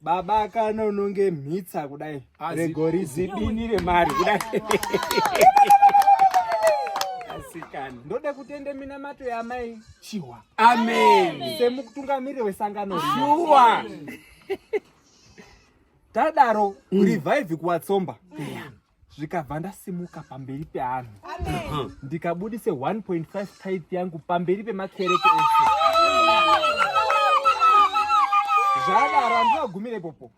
Baba kana unonge mhitsa kudai regori zibini remari kudai asikana ndoda kutenda minamato yamai chihwa amen semukutungamiri wesangano shuwa tadaro mm. revive kuwatsomba yeah. zvikabva ndasimuka pamberi peanhu ndikabudise 1.5 tyth yangu pamberi pemakereke ese zvadaro andivagumire popo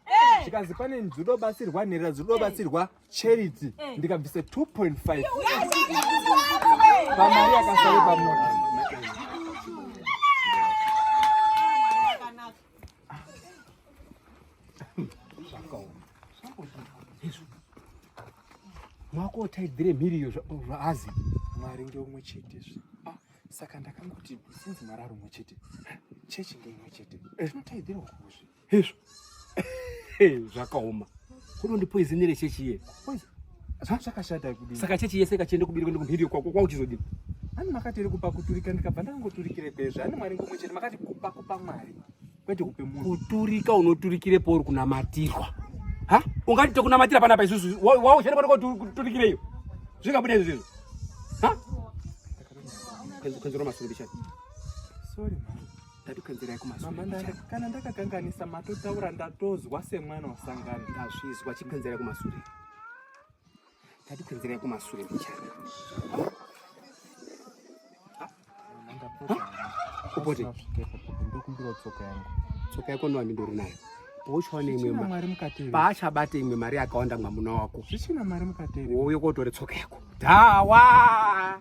zvikanzi pane nzidobatsirwa nherera zidobatsirwa charity ndikabvise 2.5 pamari yakasare pamota mwako otaidzire mhiri iyo zvaazi mwari ngeumwe chete zve ah, saka ndakangoti sinzi mwari ari umwe chete chechi ngeimwe chete eh. tinotaidzira ukuzve hezvo zvakaoma Kuno ndi poison ere chechi iye? Poison. Zvakashata kudini? Saka chechi yese ikachende kubiri kwende kumhiri kwako kwauchizodini? Ani makati iri kupa kuturika ndikabva ndangoturikire kwezvo. Ani Mwari ngomwe chete makati kupa kupa Mwari. Kwete kupe munhu. Kuturika unoturikire pauri kunamatirwa. Ha? Ungati tokunamatira pana pa isusu. Wao chete kwako kuturikire iyo. Zvingabude izvi. Ha? Kwenzi kwenzi roma sulubi chete. Sorry man. ndatokanzirai kumazuva mama ndanga kana ndakakanganisa matotaura ndatozwa semwana wasangana ndazvizwa chikanzirai kumasure ndatokanzirai kumasure mbichana upote ndokumbira tsoka yangu tsoka yako nowani ndori nayo pauchaona imwe paachabata imwe mari yakawanda mwamuna wako zvichina mari mukateri wouyo kotore tsoka yako dhawa